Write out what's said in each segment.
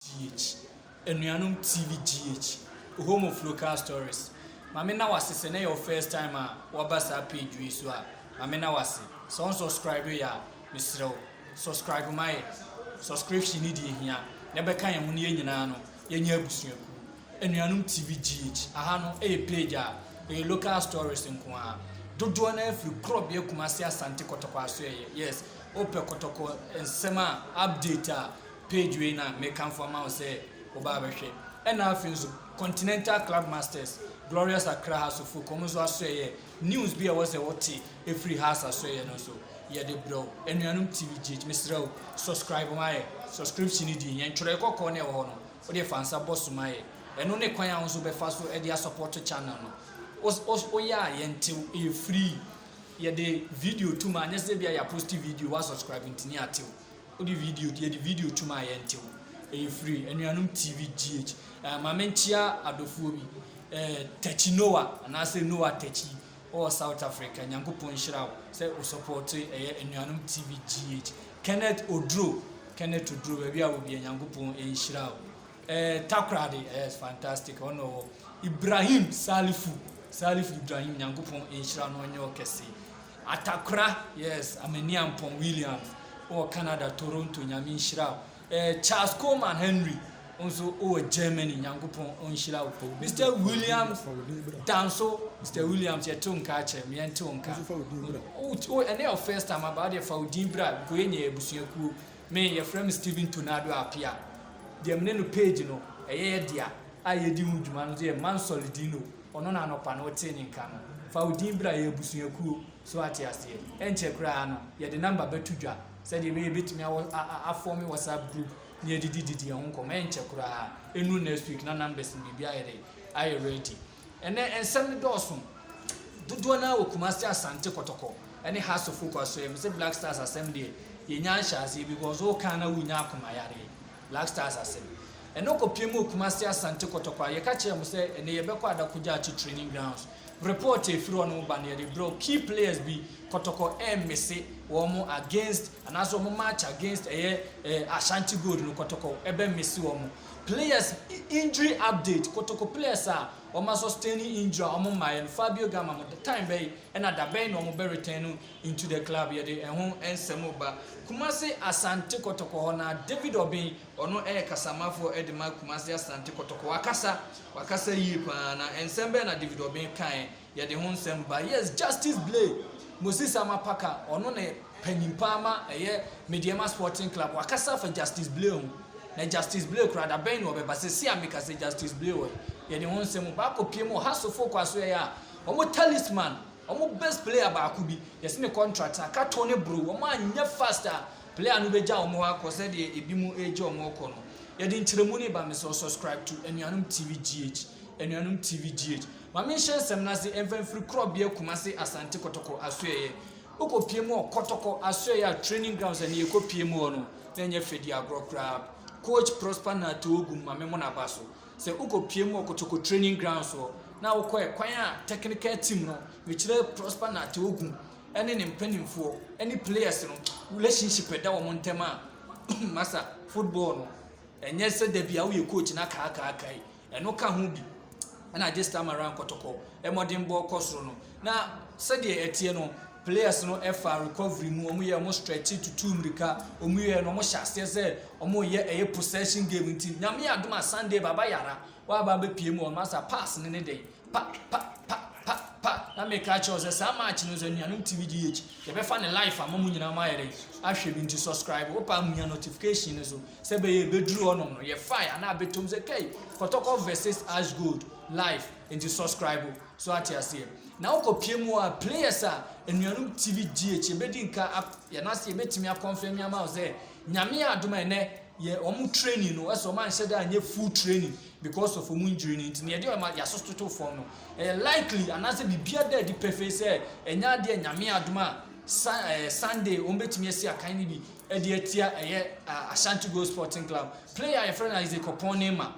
GH, Anuanom TV GH, Home of Local Stories, Ma me na wase sɛ na ɛyɛ wo first time a waba saa page wei so a, ma me na wase. Sɛ wo nsɔscribe yɛ a, mesrɛ wo subscribe ma yɛ. Subscription no deɛ ɛhia na ɛbɛka yɛn ho na yɛn nyinaa no yɛnyɛ abusuakuo. Anuanom TV GH, Aha no ɛyɛ page a ɛyɛ local stories nko ara. Dodoɔ no ara firi Korɔbea, Kumasi, Asante, Kɔtɔkɔ Asoɛeɛ. Yes, wopɛ Kɔtɔkɔ nsɛm a, update a, page wei na mekamfo ama wo sɛ woba abɛhwɛ. Ɛna afei nso Continental Club Masters, Glorious Accra House of Folk, wɔn nso asɔɛyɛ news bi a ɛwɔ sɛ wote ɛfiri house asɔɛyɛ no nso yɛde brɛ wo. Anuanom TVGH, mesrɛ wo, subscribe ma yɛ. Subscription no din, yɛn twerɛ kɔkɔɔ na ɛwɔ hɔ no, wode fa nsa bɔ so ma yɛ. Ɛno ne kwan a wo nso bɛfa so de asɔpɔto channel no. Woyɛ a, yɛntew, ɛyɛ free. Yɛde video tom a, nyɛ sɛ ebia yɛaposte video, woasubscribe nti ne yɛatew. Wode video yɛde video tum a yɛnte wo. Ɛyɛ firi Anuanom TV GH. Eh, ma menkyea adɔfoɔ bi. Eh, Takyi Noah, anaasɛ Noah Takyi, wowɔ South Africa. Nyankopɔn nhyira wo sɛ wo sɔpɔɔte ɛyɛ Anuanom TV GH. Kenneth Oduro, Kenneth Oduro, baabi a wɔ bia Nyankopɔn nhyira wo. Eh, Takoradi, yes, fantastic, ɔno ɔwɔ. Ibrahim Salifu, Salifu Ibrahim, Nyankopɔn nhyira no ɔnyɛ wo kɛse. Atakora yes Amaniampong Williams ɔwɔ Canada Toronto Nyame nhyira wo eh, Charles Coleman Henry nso ɔwɔ Germany Nyankopɔn ɔnhyira wo Mister Williams Danso Mister Williams yɛte wo nka akyɛ me yɛnte wo nka wo ɛnɛ yɛ first time aba wo deɛ fa wo din bra nkɔyɛ nyɛ abusuakuo Me, yɛfrɛ me Stephen Tornado Appiah. Deɛ me ne no page no, ɛyɛ yɛ dea, a yɛdi ho dwuma no nso yɛ Man Solidino, ɔno na anɔpa no wotee ne nka no. Fa wo din bra, yɛ abusuakuo, so woate aseɛ. Ɛnkyɛ koraa no, yɛde number bɛto dwa, sɛdeɛ ɛbɛyɛ yɛbɛtumi awɔ a a afɔme WhatsApp group na yɛadidi didi yɛn ho nkɔmmɔ, ɛnkyɛ koraa, ɛnnuru next week na numbers no biribiara ayɛ dɛn, ayɛ ready. Ɛnnɛ nsɛm no dɔɔso, dodoɔ no ara wɔ Kumasi, Asante Kɔtɔkɔ ne Hearts of Oak Asɔeɛ mu. Sɛ Black Stars asɛm deɛ, yɛnnya nhyɛaseɛ because woka a na wonya akoma yareɛ. Black Stars asɛm. Ɛno kɔpie mu wɔ Kumasi, Asante Kɔtɔkɔ a yɛka kyerɛɛ mo sɛ ɛnnɛ yɛbɛkɔ Adako Gyakye Training Grounds. Report a ɛfiri hɔ nom ba no yɛde brɛ wo. Key players bi, Kɔtɔkɔ ɛremmese wɔn against anaasɛ wɔn match against ɛyɛ Ashanti Gold no, Kɔtɔkɔ ɛbɛmmese wɔn. Players injury update Kotoko players a wɔma sustaini injury a wɔn mmaeɛ no Fabio Gama mo time bɛn ɛna da bɛn na wɔn bɛ return no into the club yɛde ɛho nsɛm reba Kumasi Asante Kotoko hɔ na David Obeng ɔno ɛyɛ kasamafoɔ ɛde ma Kumasi Asante Kotoko wakasa wakasa yie paa na nsɛm bɛn na David Obeng kaeɛ Yɛde ho nsɛm ba. Yes, Justice Blay Moses Amapaka, ɔno na panyin paa ma ɛyɛ Medeɛma Sporting Club. Wakasa afa Justice Blay ho. Na Justice Blay koraa, da bɛn na ɔbɛba? Seesei a meka sɛ Justice Blay wɔ he? Yɛde ho nsɛm o. Baako pie mu, Ohasofo Kwasoɛyɛ a, wɔn talisman, wɔn best player baako bi, yɛse ne contract aka to ne bro. Wɔn anyɛ fast a, player no bɛgya wɔn hɔ akɔ sɛdeɛ ebinom regya wɔn rekɔ no. Yɛde nkyerɛmu no reba. Mesrɛ wo subscribe to Anuanom TV GH, Anuanom TV GH. Ma me nhyɛ nsɛm no ase mfa mfiri korɔbea Kumasi Asante Kɔtɔkɔ asoɛeɛ Wokɔ pie mu wɔ Kɔtɔkɔ asoɛeɛ a training grounds a ɛnɛ yɛkɔ pie mu hɔ no na ɛnyɛ fɛ di agorɔ koraa Coach Prosper Nartey Ogum ma me mmɔ n'aba so sɛ wokɔ pie mu wɔ Kɔtɔkɔ training grounds hɔ na wokɔ ɛkwan a technical team no mekyerɛ Prosper Nartey Ogum ɛne ne mpanimfoɔ ɛne players no relationship ɛda wɔn ntɛm a masa football no ɛnyɛ sɛ dabi a woyɛ coach na kaakaakai Ɛno ka ho bi na agye Stammeran kɔtɔkɔ. Mmɔdenbɔ kɔ soro no, na sɛdeɛ ɛteɛ no, players no fa recovery mu, wɔn yɛ wɔn stretch, tutu mmirika, wɔn yɛ no wɔn hyɛ aseɛ sɛ wɔn yɛ ɛyɛ possession game nti, nyame adom a Sunday baba yara, waba abɛpie mu wɔn asa pass ne ne dɛn. Pa! Pa! Pa! Pa! Pa! Na meka akyerɛ wo sɛ saa match no sɛ nuanom TV GH yɛbɛfa ne life ama mo nyinaa mo ayɛ dɛn ahwɛ bi nti subscribe wo paa munya notification no so sɛ bɛyɛ ebeduru hɔnom no yɛ fire anaa betom sɛ kɛi kɔtɔkɔ versus ash gold life nti subscribe so ate aseɛ na wokɔ pie mu a players a nuanom TV GH yɛbɛdi nka yɛn ase yɛbɛtumi akɔnfɛmi ama wo sɛ nyame adom ɛnɛ yɛ wɔn training no ɛsɛ wɔn anhyɛ da anyɛ full training because of wɔn injury no nti, na yɛde wɔn aso toto fam no, ɛyɛ likely anaasɛ biribiara da adi pefee sɛ ɛnyɛ adeɛ a Nyame adom a sa, eh, Sunday wɔbɛtumi asi akan no bi de atia ɛyɛ uh, Ashanti Gold Sporting Club. Player a yɛfrɛ no Isaac Ɔpɔn Neema.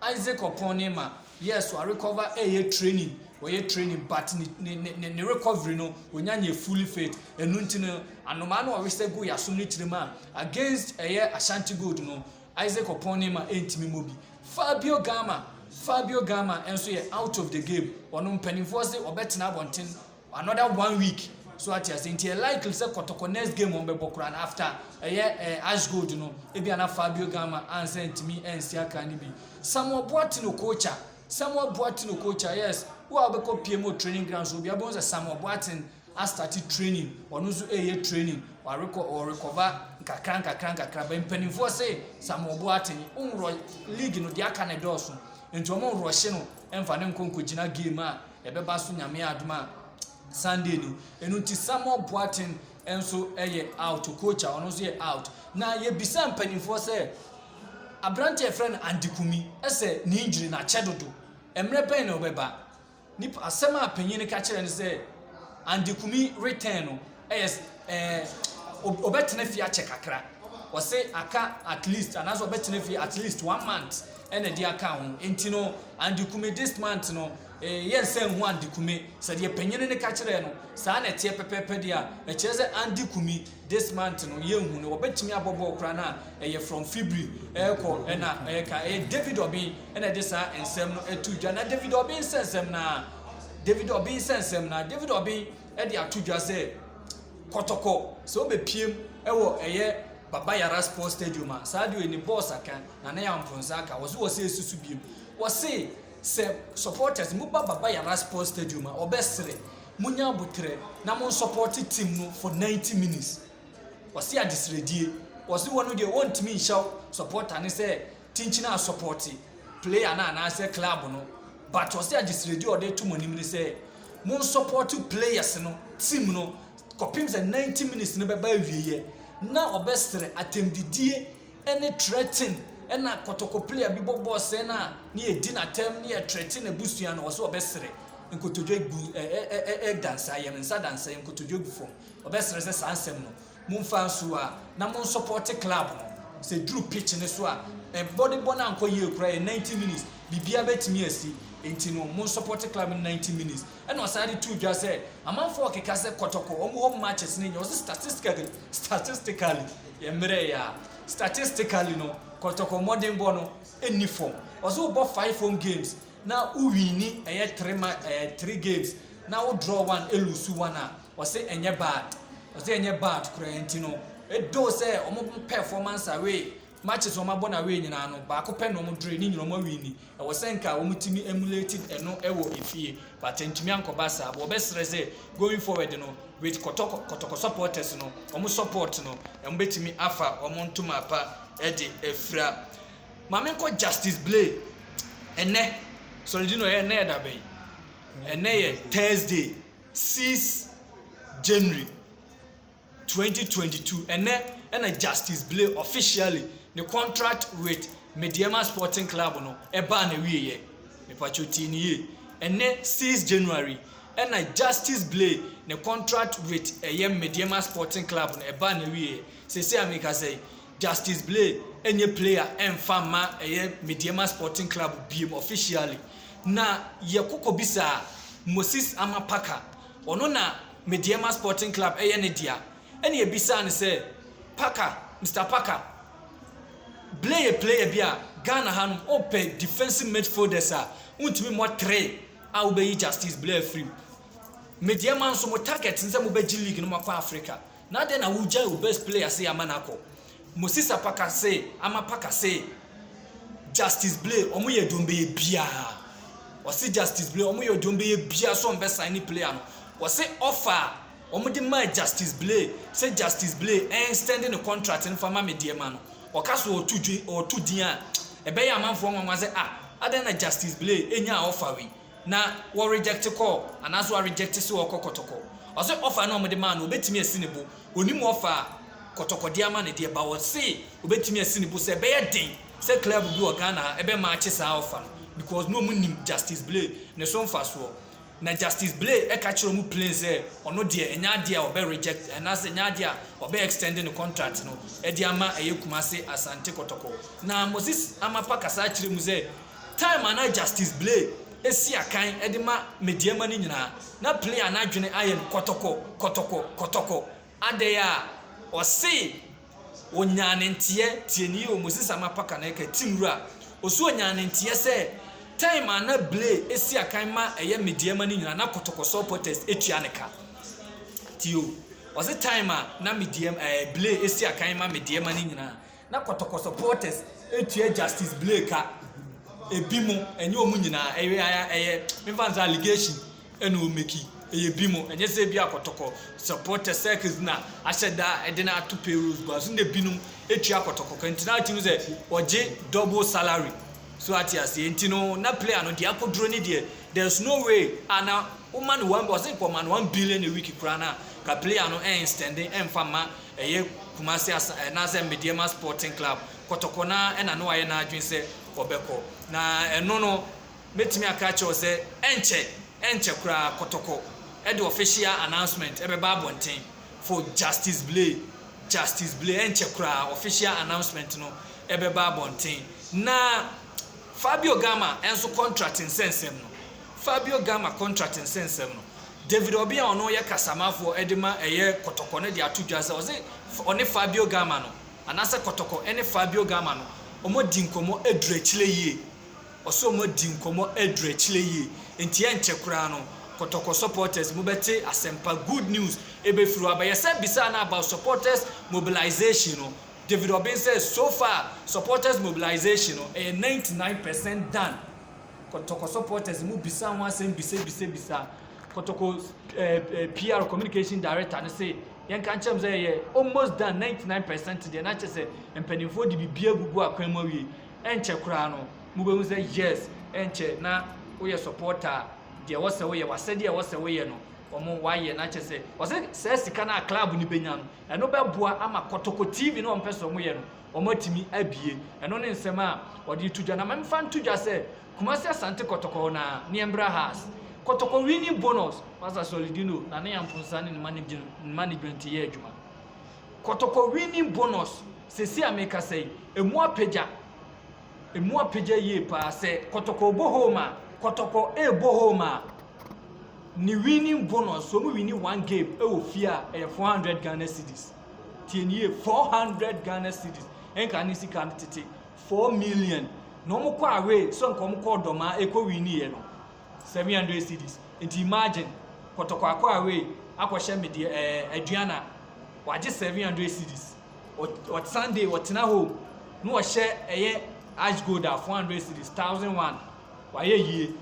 Isaac Ɔpɔn Neema, yes, warecover ɛyɛ training, wɔyɛ training but ne, ne, ne, ne recovery no wɔnya nyɛ fully fit. Ɛno nti no, anomaa no ɔresɛ gu yɛasom ne tirim a against ɛyɛ Ashanti Gold no, Isaac Opone ma ɛntumi mmɔ bi. Fabio Gama Fabio Gama nso yɛ out of the game. Ɔno mpanimfoɔ se ɔbɛtena abɔnten another one week. So ate ase nti ɛ likely sɛ kɔtɔkɔ next game wɔn bɛbɔ koraa no after ɛyɛ ɛɛ Ash Gold no ebi ana Fabio Gama ansa ntumi ɛnsi akan no bi. Samuel Boateng Okocha Samuel Boateng Okocha yes wo a wobɛkɔ pm wɔ training ground so obiara bɛhu sɛ Samuel Boateng astate training ɔno nso ɛyɛ training warekɔ ɔrekɔba nkakra nkakra nkakra bɛ mpanimfoɔ se Samuel Boateng nworɔ league no deɛ aka ne dɔɔso nti wɔn nworɔhye no ɛmfa ne nkɔ nkɔgyina game a ɛbɛba so nyame adom a Sunday ni ɛno nti Samuel Boateng nso ɛyɛ out coach a ɔno nso yɛ out na yɛbisa mpanimfoɔ sɛ aberante a ɛfrɛ no Andy Kumi ɛsɛ ne injury na akyɛ dodo mmerɛ bɛn na ɔbɛba Nip asɛm a panyin no ka kyerɛ no sɛ Andy Kumi retɛn no ɛyɛ ɛɛ ɔbɛtena fie akyɛ kakra. Ɔse aka at least anaasɛ ɔbɛtena fie at least one month ɛna ɛde aka ho. Enti no Andy Kumi this month no eh, yɛn nsa nhu Andy Kumi. Sɛdeɛ panyin no ka kyerɛ no saa na ɛteɛ pɛpɛɛpɛ deɛ a ɛkyerɛ sɛ Andy Kumi This month no yɛnhu no wɔbɛtumi abɔ bɔɔl koraa no a ɛyɛ from Fibri ɛrekɔ ɛna ɛreka ɛyɛ David Obin ɛna ɛde saa nsɛm no ɛtu dwa na David Obin nsɛnsɛm no ara David Obin nsɛnsɛm no ara David Obin ɛde ato dwa sɛ kɔtɔkɔ sɛ ɔbɛpiem ɛwɔ ɛyɛ Baba Yara Sports Stadium a saa deɛ ɛni bɔɔs aka na ne yɛn mfonsa aka wɔso wɔ sɛ ɛsusu biem wɔse sɛ supporters mu ba Baba Yara Sports Stadium a ɔbɛsere monya aboterɛ na mo nsɔpɔte team no for 90 minutes ɔse adesrɛdie ɔse wɔno deɛ wɔntumi nhyɛw supporter ne sɛ tinkyina asɔpɔte player no anaasɛ club no but ɔse adesrɛdie ɔde to mo anim ne sɛ mo nsɔpɔte players no team no kɔpem sɛ 90 minutes no bɛba awieɛ na ɔbɛsrɛ atɛmdidie ne Tretin na kɔtɔkɔplia bi bɔ bɔs sɛɛ no a ne yɛ di na tɛm ne yɛ Tretin abusua no ɔsɛ ɔbɛ srɛ nkotodwe gu ɛ ɛ ɛ ɛ ɛ dansa yɛ me nsa dansa yɛ nkotodwe gu fɔm ɔbɛ srɛ sɛ saa nsɛm no mo nfa nso a na mo nsɔpɔte club no sɛ duru pitch ne so a ɛ bɔde bɔ no ankɔ yie kora yɛ 90 minutes bibia bɛ tumi asi enti no mo nsɔpɔte club no 90 minutes Ɛna ɔsan de too dwa sɛ amanfoɔ ɔkeka sɛ kɔtɔkɔ wɔn hɔ matches no nyɛ ɔse statistically statistically yɛ mmerɛ yɛ a statistically no kɔtɔkɔ mmɔdenbɔ no nni fam ɔse wobɔ five home games na wo wini ɛyɛ three ma ɛɛ eh, three games na wo draw one elusu one a ɔse ɛnyɛ bad ɔse ɛnyɛ bad koraa nti no ɛdoo sɛ wɔn performance away Matches a wɔabɔ no away nyinaa no, baako pɛ na wɔdroe, ne nyinaa wɔawin ni. Ɛwɔ sɛ anka wɔtumi emulated ɛno wɔ efie, but antumi ankɔba saa. But wɔbɛsrɛ sɛ going forward no, with Kɔtɔkɔ Kɔtɔkɔ supporters no, wɔn support no, wɔbɛtumi afa wɔn ntoma pa de afira. Ma menkɔ Justice Blay. Ɛnnɛ, sorry, do you know, ɛyɛ, ɛnnɛ yɛ da bɛn? Ɛnnɛ yɛ Thursday, 6 January. twenty twenty two, ɛnnɛ na Justice Blay officially ne contract with Medeama Sporting Club no baa n'awieɛ. Mepacho tie ne yie. Ɛnnɛ six January ɛna Justice Blay ne contract with ɛyɛ Medeama Sporting Club no ɛbaa n'awieɛ. Sese a mekasa yi, Justice Blay ɛnyɛ player ɛmfa mma ɛyɛ Medeama Sporting Club biem officially. Na yɛkɔ kɔbisaa Moses Amapaka, ɔno na Medeama Sporting Club ɛyɛ ne dea ɛna ɛbisaa no sɛ, Parker, Mister Parker, Blay yɛ player bi a Ghana ha nom wopɛ defensive midfielders a wontumi mmɔ three a wobɛyi Justice Blay afiri mu. Medeama nso mo target ne sɛ mobɛgye league no moakɔ Africa, na adɛn na wogyae wo best player sɛ yɛama no akɔ? Moses Apakase, Ama Pakase, Justice Blay, wɔn yɛ dwom bɛyɛ biara. Wɔsi Justice Blay, wɔn yɛ dwom bɛyɛ biara so wɔn bɛ sign ne player no. Wɔsi offer a wɔn de maa Justice Blay sɛ Justice Blay ɛnstɛnde ne contract no fa ma me deɛ ma no. Wɔka so wɔtu dwi wɔtu din a ɛbɛyɛ amanfoɔ nwanwa sɛ ah adan na Justice Blay ɛnyaa offer wei. na wɔ reject call anaasɛ wa reject sɛ ɔkɔ kɔtɔkɔ ɔse offer na ɔmo de maa no obetumi asi ne bo onim offer a kɔtɔkɔ de ama no deɛ but ɔse obetumi asi ne bo sɛ ɛbɛyɛ den sɛ club bi wɔ Ghana ha ɛbɛ match saa offer no because na ɔmo nim Justice Blay ne so mfasoɔ na Justice Blay ɛka kyerɛ ɔmo plain sɛ ɔno deɛ ɛnyɛ adeɛ a ɔbɛ reject anaasɛ ɛnyɛ adeɛ a ɔbɛ extend ne contract no ɛde ama ɛyɛ Kumasi Asante kɔtɔkɔ na Moses Amapa kasa akyerɛ mu sɛ Time a na Justice Blay si akan de ma Medeama no nyinaa, na Player no adwene ayɛ no kɔtɔkɔ, kɔtɔkɔ, kɔtɔkɔ. Adɛn a? Ɔse ɔnyaa ne nteɛ, tie nie o, Moses Ama Parker na ɛka, Tim Wura, ɔse ɔnyaa ne nteɛ sɛ time a na Blay si akan ma ɛyɛ Medeama no nyinaa, na kɔtɔkɔ supporters tua ne ka. Tie o, ɔse time a na Medeama, ɛɛ, Blay si akan ma Medeama no nyinaa, Na kɔtɔkɔ supporters tua Justice Blake ka. Ebi mo, ɛnyɛ wɔn nyinaa, ɛyɛ ɛyɛ mefa nsa allegation ɛna wɔn meki. Ɛyɛ bi mo, ɛnyɛ sɛ ebi a kɔtɔkɔ supporters circles na ahyɛ da ɛde na ato payrolls gua so. Na binom etua kɔtɔkɔ ka nti na ɔte mu sɛ ɔgye double salary. So ate aseɛ nti no na player no deɛ akoduro ne deɛ there's no way a na woma no one ɔse nka ɔma no one billion a week koraa na ka player no ɛnstɛnde ɛnfa mma Ɛyɛ Kumasi Asa anaasɛ Medeɛma Sporting Club kɔtɔkɔ no ara na na wayɛ n'adwene sɛ ɔbɛkɔ. Na ɛno no, mɛtumi aka akyerɛ wo sɛ ɛnkyɛ, ɛnkyɛ koraa kɔtɔkɔ de official announcement ɛbɛba abɔnten for Justice Blay, Justice Blay, ɛnkyɛ koraa official announcement no ɛbɛba abɔnten. Na. Fabio Gama nso kɔntrat nsɛnsɛm no Fabio Gama kɔntrat nsɛnsɛm no, David Obeng a ɔno yɛ kasamafoɔ de ma ɛyɛ kɔtɔkɔ no de ato dwa sɛ ɔse ɔne Fabio Gama no, anaasɛ kɔtɔkɔ ne Fabio Gama no, wɔadi nkɔmmɔ aduru akyire yie. Ɔse wɔadi nkɔmmɔ aduru akyire yie, enti ɛnkyɛ koraa no, kɔtɔkɔ supporters mobɛte asɛmpa, good news, ɛbɛfiri hɔ aba. Yɛsan bisaa no about supporters mobilisation no, David Obeng sɛ so far supporters mobilization no ɛyɛ ninety nine percent done. Kotoko supporters mu bisa ho asɛm bisabisabisa. Kotoko PR, communication director, no se yɛnka nkyerɛ mo sɛ ɛyɛ almost done ninety nine percent deɛ na kyerɛ sɛ mpanimfoɔ de biribiara agugu akwan mu awie. Ɛnkyɛ koraa no mobɛhu sɛ yes ɛnkyɛ na woyɛ supporter a deɛ ɛwɔ sɛ woyɛ w'asɛdeɛ a ɛwɔ sɛ woyɛ no wɔn wɔayɛ na kyerɛ sɛ wɔse saa sika no a club no bɛnya no Ɛno bɛboa ama kɔtɔkɔ TV no a wɔpɛ sɛ wɔyɛ no, wɔatumi abue. Ɛno ne nsɛm a wɔde reto dwa. Na memfa nto dwa sɛ, Kumasi Asante Kɔtɔkɔ hɔ no ara, Niembra has kɔtɔkɔ winning bonus. Pastor Solidino na ne Amponsa ne ne management yɛ adwuma. Kɔtɔkɔ winning bonus, sɛsi a mekasa yi, ɛmu apagya. Emu apegya yie paa sɛ kɔtɔkɔ ɔbɔ home a, kɔtɔkɔ ɛɛbɔ home a, ne winning bonus, sɛ ɔmo winni one game ɛwɔ fie a, ɛyɛ 400 Ghana cedis. Tie no yie, 400 Ghana cedis, ɛnka ne sika no tete, 4 million. Na ɔmo kɔ away, sɛ nka ɔmo kɔ ɔdɔmaa ɛkɔ winni yɛ no, 700 cedis. Nti imagine, kɔtɔkɔ akɔ away akɔhyɛ me deɛ ɛɛ Aduana, wagye 700 cedis. ɔt sunday ɔtena home na ɔhyɛ ɛyɛ ash gold a four hundred series thousand one wayɛ yie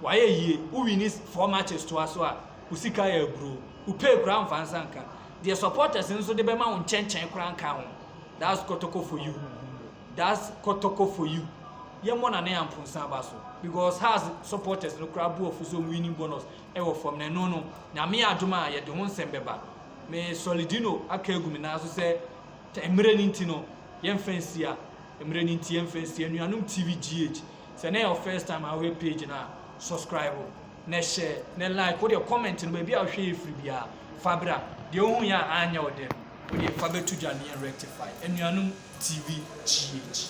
wayɛ yie wowi ne four matches toa so a wo sika yɛ aburo wo pay koraa mfa nsa nka deɛ supporters nso de bɛma wo nkyɛnkyɛn koraa nka ho that's kɔtɔkɔ for you that's kɔtɔkɔ for you yɛmmɔ na ne amponsa aba so because has supporters no koraa bu ɔfo so winning bonus ɛwɔ fam na ɛno no nyame adom a yɛde ho nsɛm bɛba Me Soldino aka agu me nan so sɛ tɛ mmerɛ no nti no yɛmfa nsia mmerɛ no nti yɛmfa nsia Anuanom TV GH sɛ na yɛ wo first time a wohwɛ page no a subscribe na hyɛ na like wo deɛ comment no baabi a wohwɛ yɛ firi biara fa bra deɛ wohu yɛ a anyɛ wo dɛ no wo deɛ fa bɛto dwa ne yɛn rectify Anuanom TV GH.